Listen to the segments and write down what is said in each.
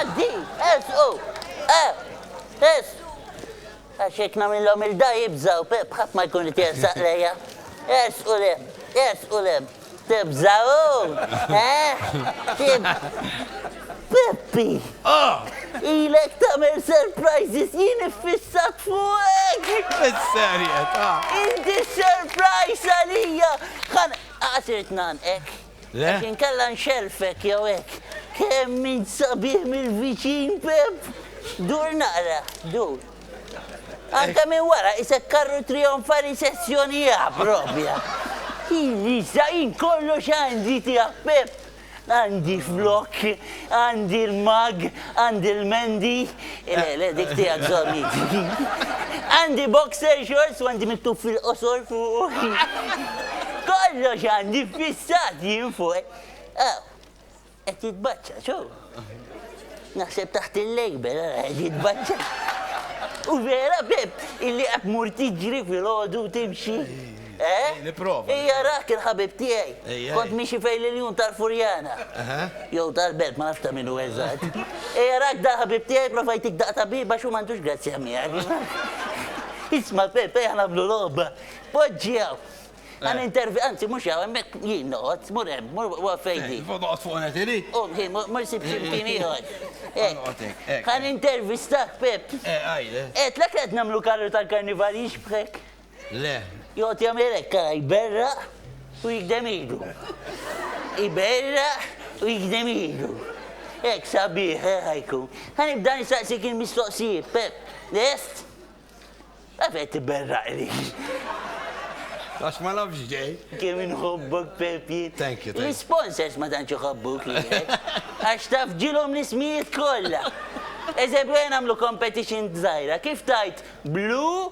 Għaddi, ersqu, e, es. Għax jekk nagħmilhom il-da jibżaw, bħadd ma jkun qed jersaq lejja. Ersqu le, ersqu le. Tibżaw, eh? Tib. Peppi! Ah! Ilek tagħmel surprises jien iffissat fuqek! Is-serjetà! Inti surprise għalija! Ħan għasirt nan, ek? Le? Għax inkella nxellfek jew hekk. Kemm int sabiħ mill-viċin, Pepp! Dur naqra, dur. Anke minn wara qisek karru trijonfali sezzjoni A proprja. Jien issa, jien kollox għandi tiegħek, Pepp. Għandi flokk, għandi l-mag, Għandi l-mendi, le, le, dik tiegħek żommni. Għandi boxer shorts u għandi miktub fil-qosor fuq. Kollox għandi fissat jien fuq. Aw, qed jitbaċċa, xo? Naħseb taħt il-lejber, qed jitbaċċa. U vera, Pep, illi qed mur tiġri fil-ħodu timxi. Eh? Nipprova. Ija rah kien ħabib tiegħi. Kont miexi fejn l-iljun tal-Furjana. Jew tal-Belt, ma nafx ta' min hu eżatt. Ija rak da ħabib tiegħi prova jtik daqta biba x'hu m'għandux grazzja miegħek. Isma' Pepe ħa nagħmlu logħba. Poġġi hawn. Ħa nintervi, anzi mhux hawn hemmhekk jien noqgħod, mur hemm, mur waqgħod fejn di. Noqgħod fuq net ili? U ħin mur sib xi mkien ieħor. Ħa nintervistak Pep. Qed lek qed nagħmlu karru tal-karnival jixbħek. Le. Joqgħod jagħmel hekk ara jberraq u jigdem idu. Iberraq u jigdem idu. Hekk sabiħ eh, ħajkun. Ħa nibda nistaqsik il-mistoqsijiet, Pep. Lest? Għaf qed tiberraq li. Għax ma nafx ġej. Kemm inħobbok Pep jien. Thank you, thank you. L-sponsors ma tantx iħobbuk li. Għax taf ġilhom l-ismijiet kollha. Eżempju, għen għamlu competition dżajra, kif tajt blu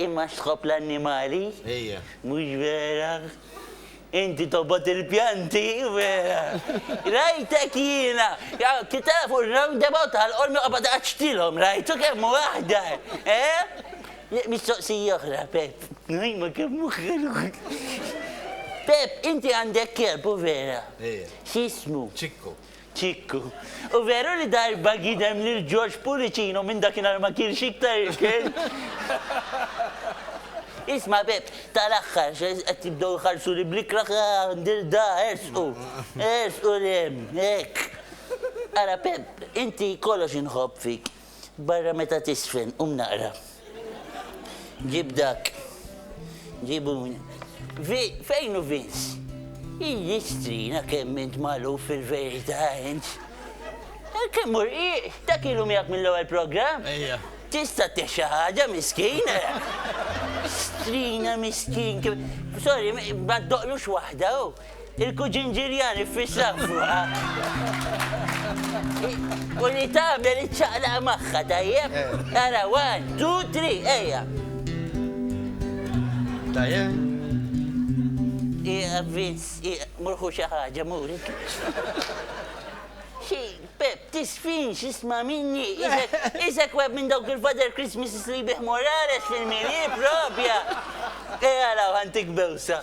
Imma x'tħobb l-annimali? Ejja. Mhux vera? Inti tobgħod il-pjanti, vera! Rajtek jiena! Kif tafu r-roundabout tal-Qormi qobgħod iqaċċtilhom, rajtu kemm hu aħdar, eh? Mistoqsija oħra, Pepp. Imma kemm hu ħelu! Pepp, inti għandek kelb, hu vera? Ejja. X'jismu? Ċikku. Kikku. U veru li darba gidem lil George Pullicino minn dakinhar ma kielx iktar ikel. Isma' Bepp, tal-aħħar qed jibdew iħarsuli bl-ikrah ah ndir da, ersqu. Ersqu 'l hemm, hekk. Ara Pepp, inti kollox inħobb fik. Barra meta tisfen, qum naqra. Ġib dak. Ġibu. Fejn u Vince? Iji strina kemm int malu fil-verita int. Eh, kemm ur, ta' kilu miegħek mill-ewwel programm? Ejja. Tista' texa ħaġa miskin. Strina miskin. Sorry, ma doqlux waħda. Oh. Il-kuġin Ġiljan iffissa fuqha u li tagħmel iċċaqlaq magħha, tajjeb? Ara, one, two, three, ejja! Tajjeb? Ieqaf Vince, ieqaf, mur ħu xi ħaġa, mur. Xi, Pep, tisfinx, isma' minni, isek, isek web minn dawk il-Father Christmases li jbigħ Morales fil-Mili, propja! Ejja araw ħa ntik bewsa.